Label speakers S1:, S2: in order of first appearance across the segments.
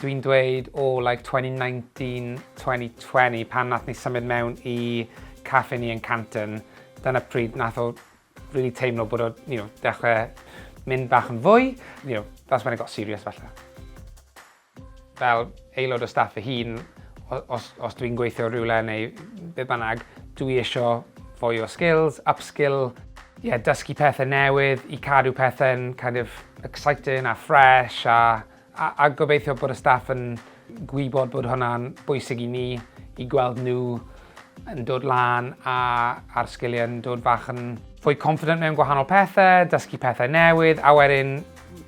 S1: dwi'n dweud o oh, like 2019, 2020 pan nath ni symud mewn i caffe ni yn Canton, dyna pryd nath o really teimlo bod o, you know, dechrau mynd bach yn fwy, you know, that's when it got serious falle. Fel aelod o staff fy hun, os, os dwi'n gweithio rhywle neu be bynnag, dwi isio fwy o skills, upskill, yeah, dysgu pethau newydd i cadw pethau'n kind of exciting a fresh a, a, a gobeithio bod y staff yn gwybod bod hwnna'n bwysig i ni, i gweld nhw yn dod lan a, a'r sgiliau yn dod fach yn fwy confident mewn gwahanol pethau, dysgu pethau newydd a wedyn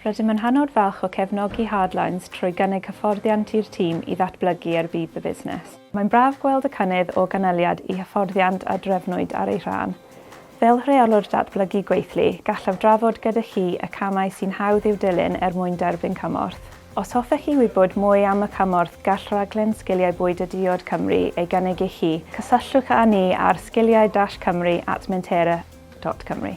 S1: Rydym yn hynod falch o cefnogi Hardlines trwy gynnig hyfforddiant i'r tîm i ddatblygu er budd y busnes. Mae'n braf gweld y cynnydd o ganlyniad i hyfforddiant a drefnwyd ar ei rhan. Fel Rheolwr Datblygu Gweithlu, gallaf drafod gyda chi y camau sy'n hawdd i'w dilyn er mwyn derbyn cymorth. Os hoffech chi wybod mwy am y cymorth gall Rhaglen Sgiliau Bwyd a Diod Cymru ei gynnig i chi, cysylltwch â ni ar sgiliau-cymru at mentera.cymru.